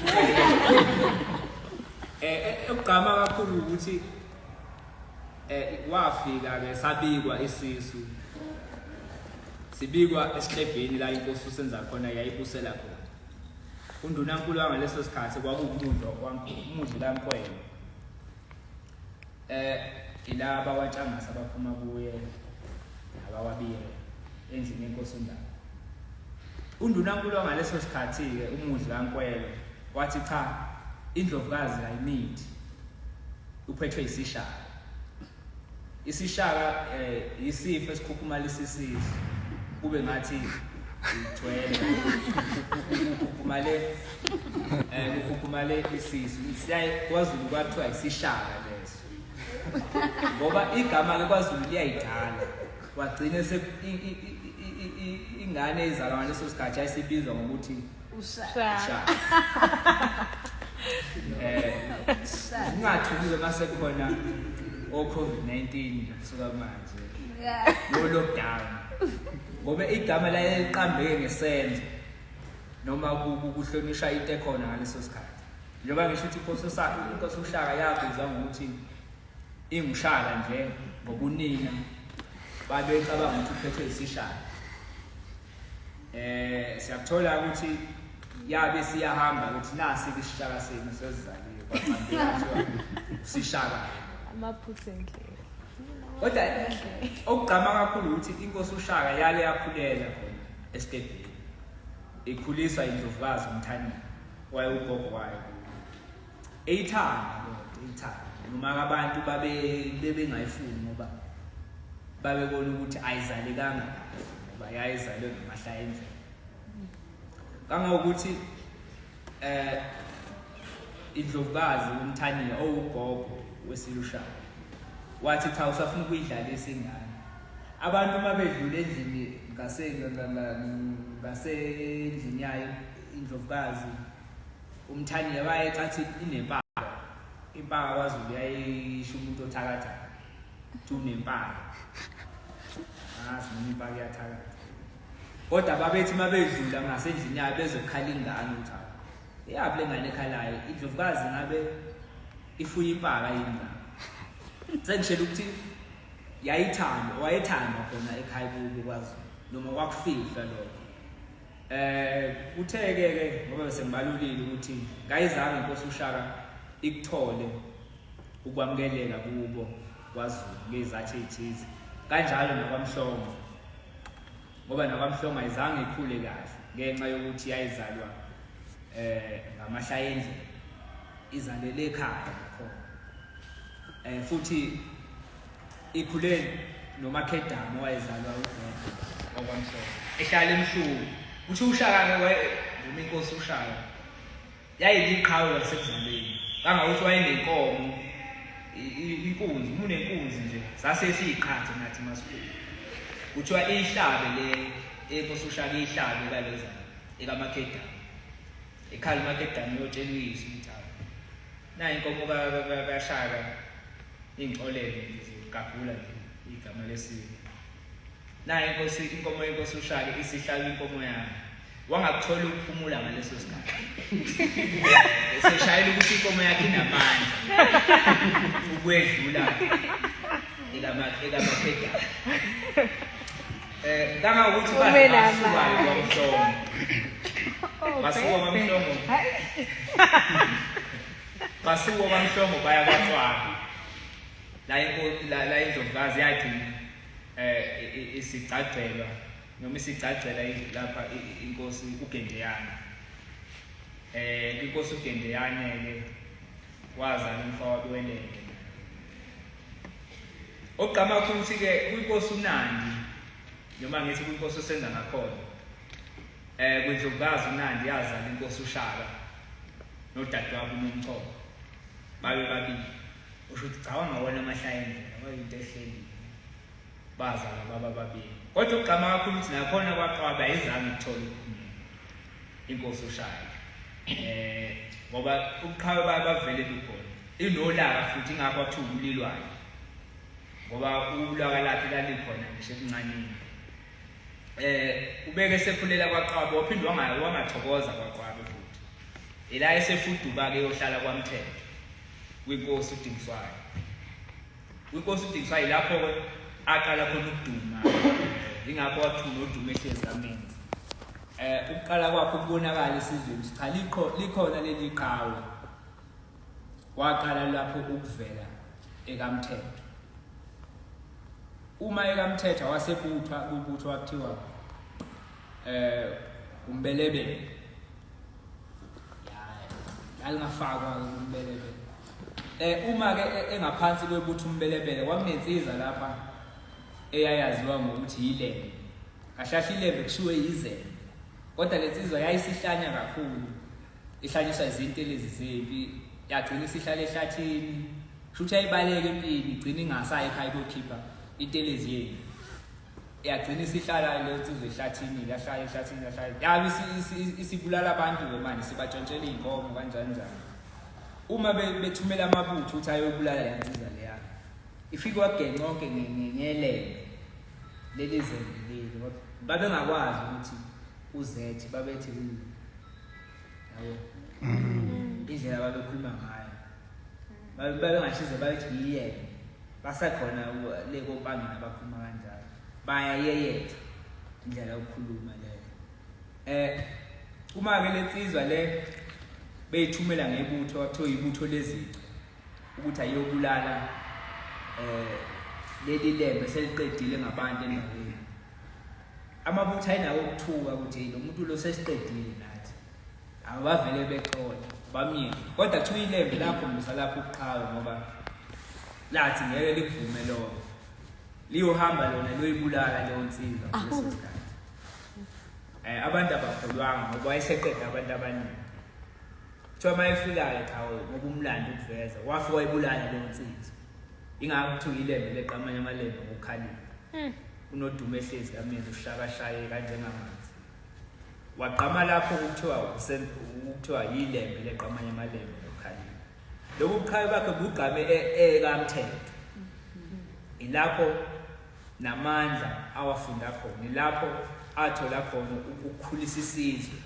Eh, eh, ukugqama kakhulu ukuthi eh wafika ke sabikwa isisu sibikwa esihlebheni la inkosi usenza khona yayibusela khona undunankulu wangaleso sikhathi kwakuwumuntu wankulu umuntu lankwena Eh ilaba waTshangasa abaphuma kuye abawabiyela endlini yenkosi uNdaba. UNdunankulu wangaleso sikhathi ke umuzi kaNkwelo wathi cha indlovukazi ayimithi uphethwe isishaka. Isishaka eh isifo esikhukhumalisa isizwe kube ngathi ithwele khukhukhumale Eh ukhukhumale isisu. Siyaye kwaZulu kwathiwa isishaka leso. Ngoba igama ke kwaZulu liyayidala. Wagcine se ingane izalwa ngaleso sikhathi ayisibizwa ngokuthi ushaka. Eh ungathukiwe mase khona o COVID-19 kusuka manje. Yeah. Lo lockdown. Ngoba igama laye liqambeke ngesenzo. noma kuhlonishwa into ekhona ngaleso sikhathi njengoba ngisho ukuthi inkosi usaka inkosi ushaka yabizwa ngokuthi ingushaka nje ngokunina babecabanga ukuthi uphethwe isishaka eh siyakuthola ukuthi yabe siyahamba ukuthi nasi isishaka senu sezizaliwe kwabantu sishaka amaphutha endlela kodwa okugqama kakhulu ukuthi inkosi ushaka yale yakhulela khona esigedini ikhuliswa indlovukazi umthanyeni waye ugogo wayo eyithanda lento eyithanda noma abantu babe bebengayifuni ngoba babebona ukuthi ayizalekanga ngoba yayizalwe ngamahlaya endlela kangangokuthi Eh indlovukazi uMthaniya owugogo wesilushana wathi cha usafuna ukuyidlalisa ingane abantu uma bedlula endlini ngasendlini yayo indlovukazi umthaniya wayecathi inempaka impaka kwazulu yayisho umuntu othakatha tunempaka azi noma impaka iyathakatha Kodwa babethi uma bedlula ngasendlini yabo bezokhala ingane ukuthi hawu, eyaphi le ngane ekhalayo indlovukazi ngabe ifuye impaka yini la sengishela ukuthi yayithanda wayethanda khona ekhaya kubo kwazi noma kwakufihlwa lokho eh kutheke ke ngoba bese ngibalulile ukuthi ngayizange inkosi ushaka ikuthole ukwamukeleka kubo KwaZulu ngezathi ethize kanjalo nakwamhlongo ngoba nakwamhlongo ayizange ikhule kahle ngenxa yokuthi yayizalwa eh ngamahlaya endlela izalele ekhaya nakhona eh futhi ikhule nomakhedama wayezalwa uGwede okwamhlongo ehlala emhlungu uthi ushaka ke wayevuma inkosi ushaka Yayiliqhawe lasekuzaleni kangakuthi wayenenkomo inkunzi umuntu enkunzi nje sase siyiqhathe nathi masikhulu kuthiwa ihlabe le enkosi ushaka ihlabe kaleza ekamakedama ekhala umakedama uyotshela uyise ukuthi awu nayo inkomo kashaka ingcolele zigagula nje igama lesiko nayo inkosi inkomo yenkosi ushaka isihlala inkomo yami wangakuthola ukuphumula ngaleso sikhathi eseshayela ukuthi inkomo yakhe inamandla ukwedlula ekamafedala eh, um kangangokuthi basukayo kwamhlongo oh, basuka kwamhlongo basuka kwamhlongo baya kwaqwaba la indlovukazi yagcina um isigcagcelwa noma isigcagcela indlu lapha inkosi uGendeyane eh inkosi uGendeyane ke wazala umfowabo welenge ogqama ukuthi ke kwinkosi uNandi noma ngithi kwinkosi usenza ngakhona eh kwindlovukazi uNandi yazala inkosi uShaka nodadewabo uNomchoko babe babili usho ukuthi cawanga wona amahlaya endlela kwayinto ehlelile bazala baba babili kodwa ukugqama kakhulu ukuthi nakhona kwaqwaba ayizange ithole inkosi ushaya eh ngoba ubuqhawe bayo bavele lukhona inolaka futhi ingakho athi ubulilwayo ngoba ulaka lakhe lalikhona ngisho ebuncanini eh ubeke sekhulela kwaqwaba waphinde wangayo wangathokoza kwaqwaba futhi ila esefuduba ke yohlala kwamthetho kwinkosi udingiswayo Kwinkosi uDingiswa yilapho-ke aqala khona ukuduma yingakho wathuma uduma ehlezi kamenzi eh ukuqala kwakho ukubonakala esizweni cha likho likhona leli qhawe waqala lapho ukuvela ekamthetho uma ekamthetha wasebuthwa kubutho wakuthiwa eh umbelebele alingafakwa umbelebele eh uma ke e, engaphansi kwebutha umbelebele kwakunensiza lapha eyayaziwa ngokuthi yilembe kahlahla ilembe kushiwe yizembe kodwa le nsizwa yayisihlanya kakhulu ihlanyiswa izinto lezi zempi yagcina isihlala ehlathini shuthi ayibaleke empini igcina ingasayi ekhaya kokhipha intelezi yenu yagcina isihlala le nsizwa ehlathini yahlala ehlathini yahlala yabe isi- isi- isi- isibulala abantu ke manje sibatshontshela iy'nkomo kanjani njani uma be- bethumela amabutho ukuthi ayobulala le nsizwa leya ifike wagenca konke nge- nge- ngelembe leli zembe leli Wab- babengakwazi ukuthi uzethi babethi "Mm." yabo indlela babekhuluma ngayo babengashize bayithi yiyena basekhona le kompangeni abakhuluma kanjalo bayayeyetha indlela yokukhuluma leyo eh uma-ke le nsizwa le beyithumela ngebutho kwakuthiwa yibutho lezici ukuthi ayiyobulala um leli lembe seliqedile ngabantu endaweni amabutho ayinawo ukuthuka ukuthi lo muntu lo sesiqedile Abavele bexola bamile. Kodwa kuthiwa ilembe lakho mbusa lapho ubuqhawe ngoba lathi ngeke likuvume lokho. Liyohamba lona liyoyibulala leyo nsizwa ngaleso sikhathi. Eh abantu abakholwanga ngoba wayeseqeda abantu abaningi. Kuthiwa uma efikayo cha ngoba umlando ukuveza wafe wayibulala leyo nsizwa. Ingakho kuthiwa ilembe leqa amanye amalembe ngokukhalipha. Unodumo ehlezi kamina ushakashaye kanjengamanje. wagqama lapho kuthiwa kuthiwa yilembe leqamanye amalembe lokukhalima lobu buqhawe bakhe bugqame ekamthetho e, ilapho namandla awafunda khona ilapho athola khona ukukhulisa isizwe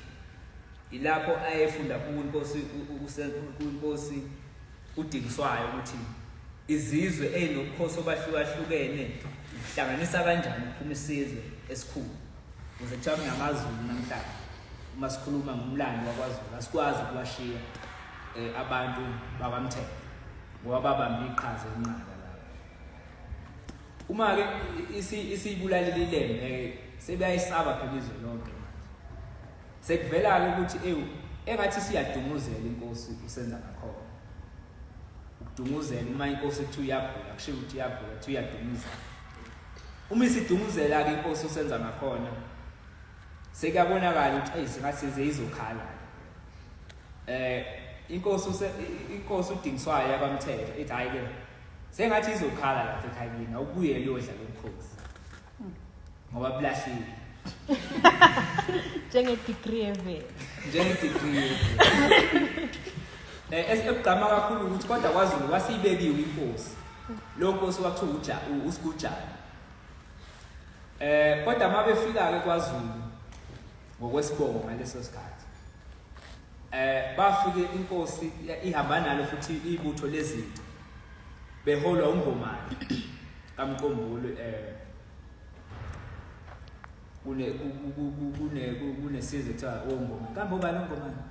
ilapho ayefunda kuNkosi uNkosi udingiswayo ukuthi izizwe ezinokukhosi obahlukahlukene uhlanganisa kanjani ukuphuma isizwe esikhulu Kuze kuthiwa kunamaZulu namhlanje uma sikhuluma ngomlando wakwaZulu asikwazi ukubashiya um abantu bakwamthetho ngoba babambe iqhaza elinqaka lapho uma-ke isiyibulalile ilembe-ke sebeyayisaba phela izwe lonke manje sekuvela-ke ukuthi ewu engathi siyadunguzela inkosi usenza ngakhona ukudunguzela uma inkosi kuthiwa iyagula kushiwo ukuthi iyagula kuthiwa iyadunguzela Uma isidumuzela ke inkosi usenza ngakhona sekuyabonakala ukuthi ayi ngathi size izokhala. Eh inkosi use inkosi udingiswayo yakwamthetho ithi hayi ke sengathi izokhala lapha ekhayeni awubuye liyodla lomkhosi. Ngoba bulahlile. Njenge degree eve. Njenge degree. Eh esikugqama kakhulu ukuthi kodwa kwaZulu wasibekiwe inkosi. Lo nkosi wakuthiwa uja usigujana. Eh kodwa mabefika ke kwaZulu ngokwesibongo ngaleso sikhathi. Eh bafike inkosi ihamba nalo futhi ibutho lezinto beholwa uNgomane kaMqombulo eh kune kune kunesizwe kuthiwa ongoma kambe ubani ongomani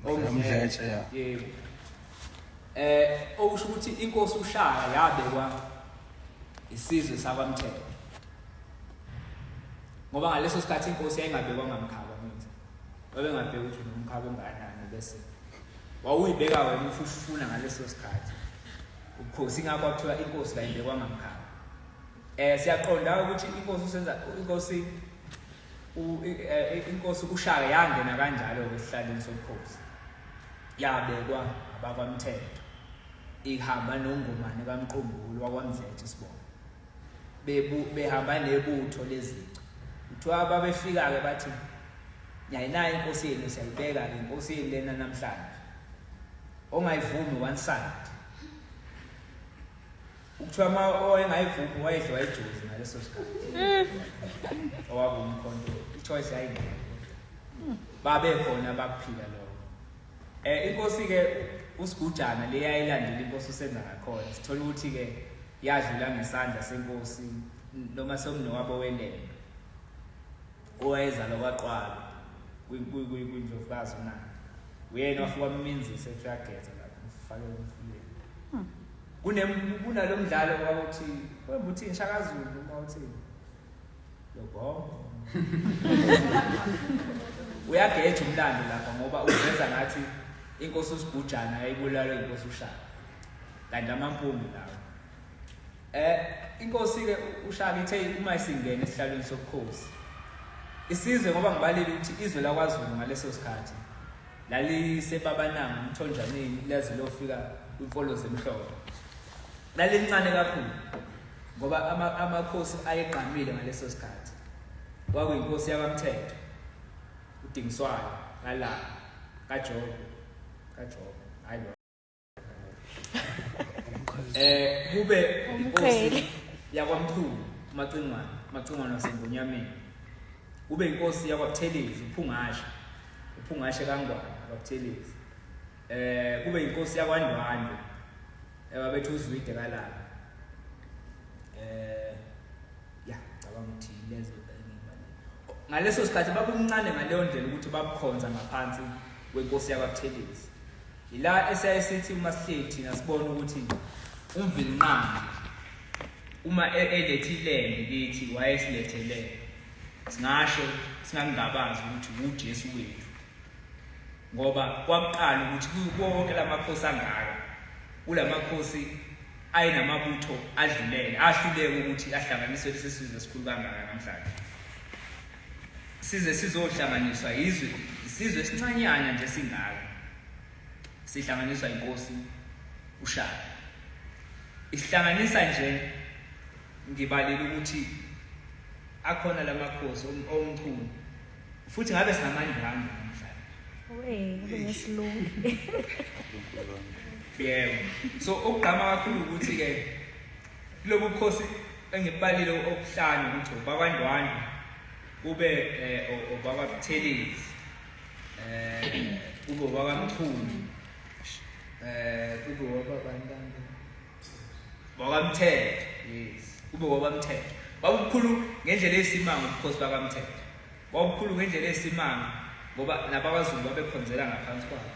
omdletshe yebo Eh okusho ukuthi inkosi uShaka yabekwa isizwe sakwaMthetho. Ngoba ngaleso sikhathi inkosi yayingabekwa ngamkhaba manje. Babengabheka ukuthi unomkhaba onganani bese wawuyibeka wena uthi usifuna ngaleso sikhathi. Ubukhosi ngakho kuthiwa inkosi kayibekwa ngamkhaba. Eh siyaqonda ukuthi inkosi usenza inkosi Eh, inkosi ushaka yangena kanjalo-ke esihlaleni sobukhosi yabekwa abakwamthetho ihamba nongomane kamqumbulu wakwamdlethe sibona behamba nebutho lezicu kuthiwa babefika-ke bathi nyayinayo inkosi yenu siyayibeka-ke inkosi yenu lena namhlanje ongayivumi one side Ukuthiwa uma owayengayivumi wayedliwa ijuzi ngaleso sikhathi. Mm. Owabumkhonto ichoice yayingekho. Babe khona bakuphila lokho. Eh inkosi ke usigujana leyayilandela inkosi usenza ngakhona. Sithola ukuthi ke yadlula ngesandla senkosi noma somnowabo welele. owayezalwa kwaqwalo kwindlovukazi unandi uyena wafika wamminzisa ethi uyageza lapho mfake umfuleni hmm. kunalo mdlalo kwakuthi wemba uthini shakazulu uma uthini lobhongo uyageja umlando lapha ngoba uveza ngathi inkosi usigujana yayibulawe inkosi ushaka kanti amampungi lawo Eh inkosi ke ushaka ithe uma isingena esihlalweni sobukhosi isizwe ngoba ngibalile ukuthi izwe lakwaZulu ngaleso sikhathi lalisebabananga umthonjaneni laze lofika inkolo zemhloko lalincane kakhulu ngoba amakhosi ayegqamile ngaleso sikhathi kwakuyinkosi yakamthetho udingiswayo kalala kajobe kajobe hayi eh kube inkosi yakwamkhulu macingwana macingwana wasengonyameni kube inkosi yakwabuthelezi uphungashe uphungashe kangwana kwabuthelezi eh kube inkosi yakwandwande ebabethu eh, uzwide kalala eh ya cabanga ukuthi lezo ngaleso sikhathi babumncane ngaleyo ndlela ukuthi babukhonza ngaphansi kwenkosi yakwabuthelezi Yila esiyaye sithi uma sihleli thina sibona ukuthi umvilinqangi uma e-, elethe ilembe kithi wayesilethele singasho singangabazi ukuthi uJesu wethu ngoba kwakuqala ukuthi kuwonke lamakhosi angaka kulamakhosi ayenamabutho adlulele ahluleke ukuthi ahlanganiswe lesi sizwe esikhulu kangaka namhlanje size sizohlanganiswa yizwe isizwe esincanyana nje singaka sihlanganiswa inkosi ushaka isihlanganisa nje ngibalile ukuthi akhona lamakhosi omchunu futhi ngabe sinamanye ngami namhlanje wey ngesilungu yebo so ukugqama kakhulu ukuthi ke Kulobu bukhosi engibalile okuhlanu ukuthi ubaba Ndwandwe kube eh, ubaba Buthelezi eh kube ubaba Mchunu eh kube ubaba Bantanda baba Mthetho yes kube ubaba Mthetho babukhulu ngendlela esimanga ubukhosi baka Mthetho babukhulu ngendlela esimanga ngoba nabakwaZulu babekhonzela ngaphansi kwabo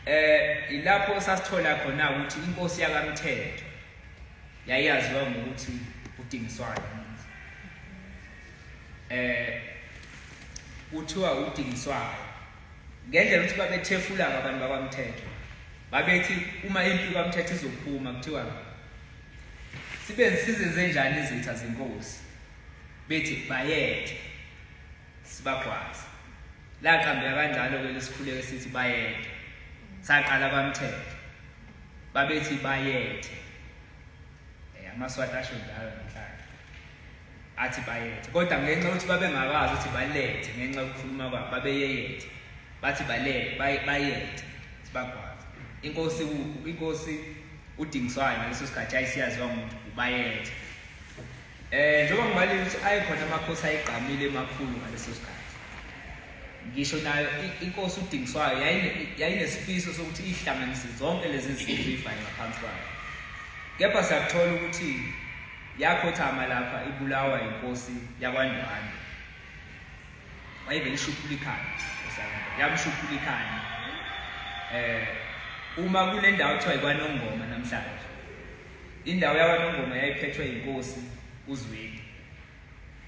Eh ilapho sasithola khona ukuthi inkosi yakaMthetho yayaziwa ngokuthi udingiswayo. Eh kuthiwa udingiswayo. Ngendlela ukuthi babethefula abantu bakwaMthetho. Babethi uma impi kwaMthetho izophuma kuthiwa sibe sizenze njani izitha zenkosi bethi bayethe sibagwaza laqambeka kanjalo ke lesikhuleko sithi bayethe saqala bamthethe babethi bayethe eh amaswati asho njalo namhlanje athi bayethe kodwa ngenxa ukuthi babengakazi ukuthi balethe ngenxa yokukhuluma kwabo babeyeyethe bathi balele bayethe sibagwaza inkosi inkosi udingiswayo ngaleso sikhathi ayisiyaziwa umuntu ubayethe Eh njengoba ngibalile ukuthi ayekhona amakhosi ayegqamile emakhulu ngaleso sikhathi. Ngisho nayo inkosi uDingiswayo yayinesifiso sokuthi ihlanganise zonke lezi zinto ifayo ngaphansi kwayo. Kepha siyakuthola ukuthi yakhothama lapha ibulawa inkosi yakwaNdwani. Wayevele ishuphula ikhanda. Yamshuphula ikhanda. Eh uma kule ndawo kuthiwa ikwanongoma namhlanje Indawo yakwaNongoma yayiphethwe yinkosi uZwide.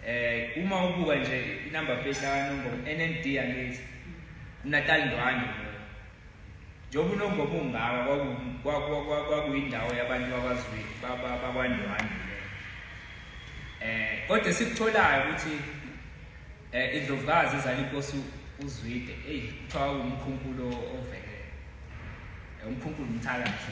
Eh uma ubuka nje inumber plate yakwaNongoma NND angithi uNatal Ndwandwe. Njengoba uNongoma ungaka kwakuyindawo yabantu bakwaZwide bakwaNdwandwe. Eh kodwa sikutholayo ukuthi eh indlovukazi izala inkosi uZwide. Ey kuthiwa umkhumbulo ovele. Eh, umkhumbulo umthakathi.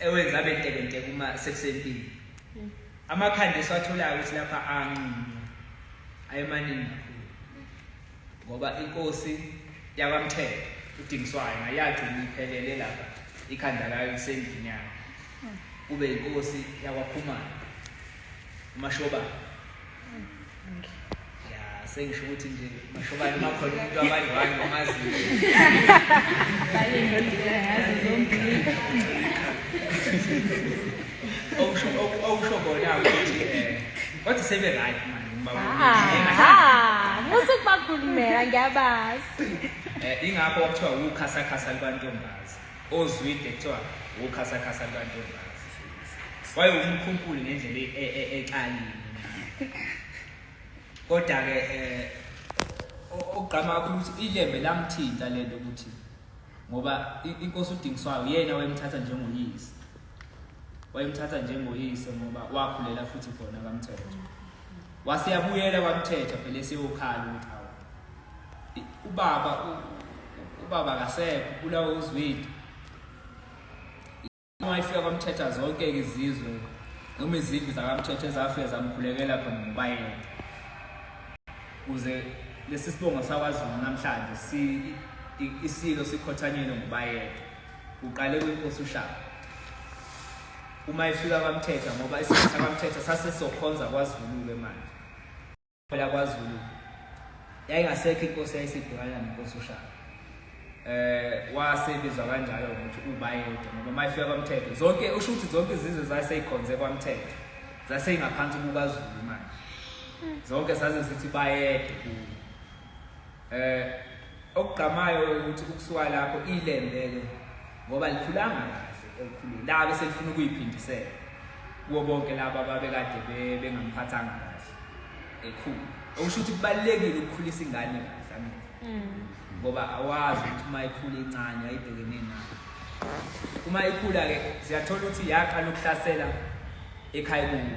ewenza abe ntekenteke uma sekusempini hmm. amakhanda esiwatholayo ukuthi lapha anqunywa ayemaningi kakhulu ngoba inkosi yakwamthetho udingiswayo nayagcina iphelele lapha ikhanda layo lisendlini yayo hmm. kube inkosi yakwakhumana Umashobane. Ya, sengisho ukuthi nje umashobane uma khona umuntu abanye wani omaziyo. Bale ndoda yazi zombili. Okusho okusho kona ukuthi eh kodwa sebe right manje uma Ah, musu kubakhulumela ngiyabazi. Eh ingakho okuthiwa ukukhasakhasa libantombazi. ozwide kuthiwa wokhasakhasa lwantombazi waye umkhunkuli ngendlela e- e- e- exalile kodwa-ke eh, o- okugqama kakhulu ukuthi ilembe lamthinta le nto ukuthi ngoba i- inkosi udingiswayo yena wayemthatha njengoyise wayemthatha njengoyise ngoba wakhulela futhi khona kamthetho waseyabuyela kwamthetho phela eseyokhala ukuthi awu ubaba ubaba akasekho ubulawa uzwile uma ifika kwamthetha zonke izizwe noma izindlu zakamthetha ezafika zamkhulekela khona ngobayena kuze lesi sibongo sakwazulu namhlanje si isilo sikhothanyelwe ngobayena uqale kwinkosi ushaka uma ifika kwamthetha ngoba isikhathi sakwamthetha sase sokhonza kwazulu-ke manje Phela kwaZulu yayingasekho inkosi yayisibhekana nenkosi uShaka. Eh wasebizwa kanjalo ukuthi ubayede ngoba mayifika kwaMthetho zonke usho ukuthi zonke izizwe zaseyikhonze kwaMthetho zaseyingaphansi kukaZulu manje. Zonke saze sithi bayede kuyo. Eh okugqamayo ukuthi ukusuka lapho ilembele ngoba likhulanga kahle elikhulu la bese lifuna ukuyiphindisela kuwo bonke laba babekade bengamphathanga kahle ekhulu okusho ukuthi kubalekile ukukhulisa ingane kahle amina mm. ngoba awazi ukuthi uma ikhula incane ayibhekene nayo uma ikhula ke siyathola ukuthi yaqala ukuhlasela ekhaya kubo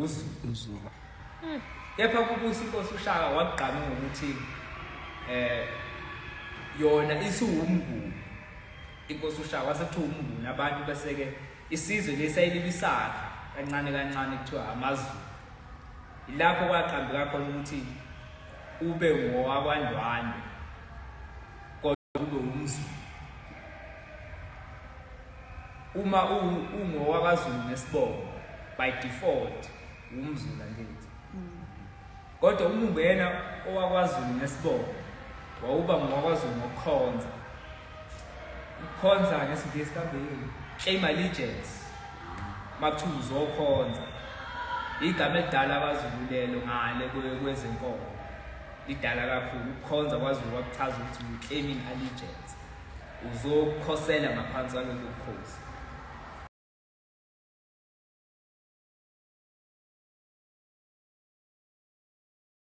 uzulu hmm. kepha kubusa inkosi ushaka wakugqame ngokuthi eh yona isiwumnguni inkosi ushaka wasethiwa umnguni abantu bese-ke isizwe lesayilibisakha kancane kancane kuthiwa amazulu ilapho kwaqambeka khona ukuthi ube ngowakwandwandwe kube umzulu uma ungowakazulu nesibongo by default wumzulu angithi mm. kodwa uma ungena owakwazulu nesibongo wawuba ngowakwazulu ngokukhonza ukukhonza ngesingisi kambeyini claim allegiance makuthiwa uzokhonza igama elidala abazululelo ngale kwezenkolo Idala kakhulu ukukhonza kwaZulu kwakuchaza ukuthi uclaiming allegiance. Uzokhosela ngaphansi kwalolu bukhosi.